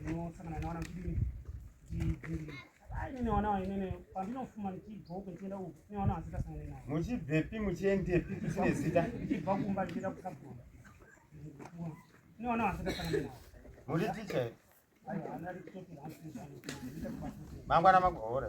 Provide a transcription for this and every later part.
ndinosangana nawana kudini ndidhiri muchibvepi muchiendepi tisine zita muri ticha mangwana magohora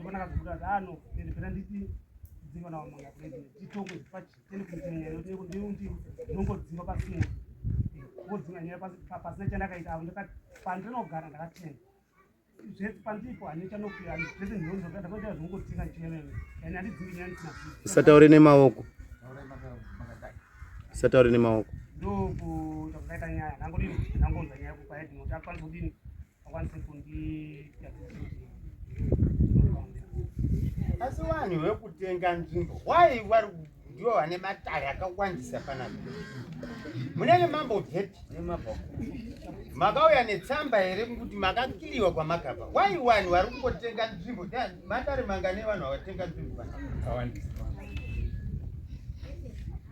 Mbona kazokuda dano pende pera nditi dzimba na mwana kule titongo zipachi tende kunyanya yote ndi ndi nongo dzimba pasi mu ngo dzimba nyaya pasi pasi na chanda kaita ndo ka pandre no gara ndaka tenda zve pandipo ane chano kuya ndi zve ndi nongo kada kwa zve ngo tsinga chene ene ndi dzimba nyaya tsina sataure ne maoko sataure ne maoko ndo ku takaita nyaya nango ndi nango nyaya ku paidi mo takwanza kudini akwanise kundiita asi vanhu vekutenga nzvimbo why vari ndivo vane matare akawandisa panapa munenge mambobvepi makauya netsamba here kuti makakiliwa kwamakabva why vanhu vari kungotenga nzvimbo matare mangane vanhu vavatenga nzvimbo vanhu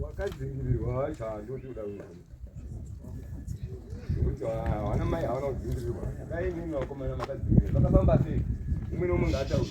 Wakadzingirirwa wacho handoti uda kuti hawana mai hawana kudzingirirwa dai imimi vakomana makadzingirirwa vakafamba sei umwe nomwe ngaatauri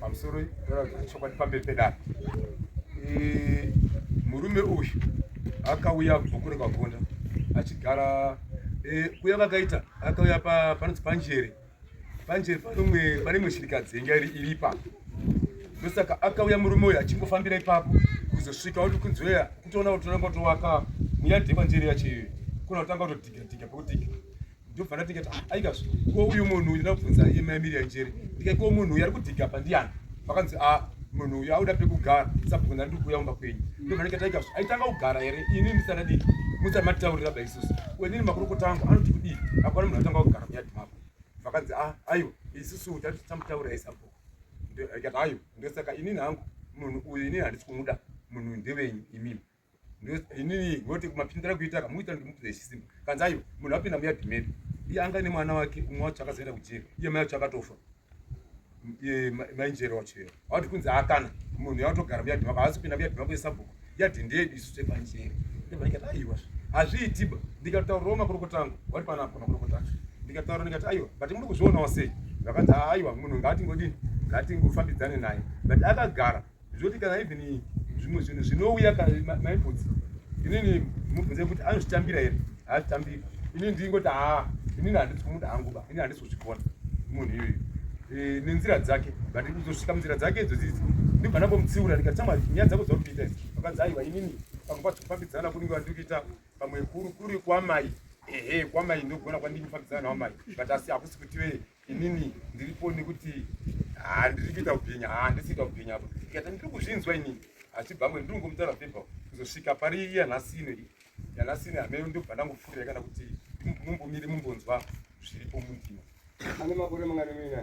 pamusoro chokwadi pamberi pedare murume uyu akauya kubva kure kwagonda achigara e, kuya vakaita akauya panonzi panjere panjere panomwe pane imwe shirikadzi yenga iri iri ipapo ndosaka akauya murume uyu achingofambira ipapo kuzosvika oti kunzweya kutoona kuti totanga kutovaka muyadhi yepanjere yacho iyoyo kuna kutanga kutodhigadhiga pekudhiga ndobva ndatinga kuti ah, aikazvo ko uyu munhu uyu ndakubvunza iye mai miriam njere ndika ko munhu uyu ari kudhiga pa ndiyani vakanzi a ah, munhu uyu auda pekugara sabhuku ndari ndikuuya kumba kwenyu ndobva ndikati aikazvo aitanga kugara here ini ndisanadii musati matitaurira ba isusu wenini makurukota angu anoti kudii akwana munhu atanga kugara muyadi mako vakanzi a ah, aiwa isusu tati tamutaurira isabhuku ndikati aiwa ndosaka inini hangu munhu uyu inini handisi kumuda munhu ndevenyu imimi inini ngoti kumapindira kuita kamuita ndimukuze chisimba kanzayo munhu apinda muya dhimeni iye anga ne mwana wake umwe wacho akazoenda kujeri iye mai wacho akatofa mainjeri wacho iye awati kunzi akana munhu yautogara muya dhimako haasi kupinda muya dhimako yesabhuku yadhi ndeyedu isu tepanjeri ndevaikati aiwa hazviitiba ndikataurawo makurukota angu wati panapo makurukota acho ndikataura ndikati aiwa but muri kuzvionawo sei vakanzi aiwa munhu ngaatingodini ngatingofambidzane naye but akagara zvoti kana even zvimwe zvinhu zvinouya kana maibvudzi inini mubvunze kuti anozvitambira here haazvitambiri inini ndingoti haa inini handisi kumuda hangu ba inini handisi kuzvigona munhu iyoyo e, nenzira dzake but kuzosvika munzira dzake idzo dzidzi ndibva ndambomutsiura ndikati chama nyaya dzako dzakutoita idzi vakanzi aiwa inini pamwe pacho kufambidzana kunenge vandikuita pamwe kuri kuri kwamai ehe kwamai ndogona kwandikufambidzana nawamai but asi hakusi kuti vee inini ndiripo nekuti handiri kuita kubhinya handisi kuita kubhinya apa ndikati ndiri kuzvinzwa inini achibvangwe ndiri kungomutaura pepa kuzosvika pari iya nhasi ino iyi yanhasi ino hameno ndobva ndangopfuurira kana kuti mumbomiri mumbonzwa zviripo mundima ane makore mangani muina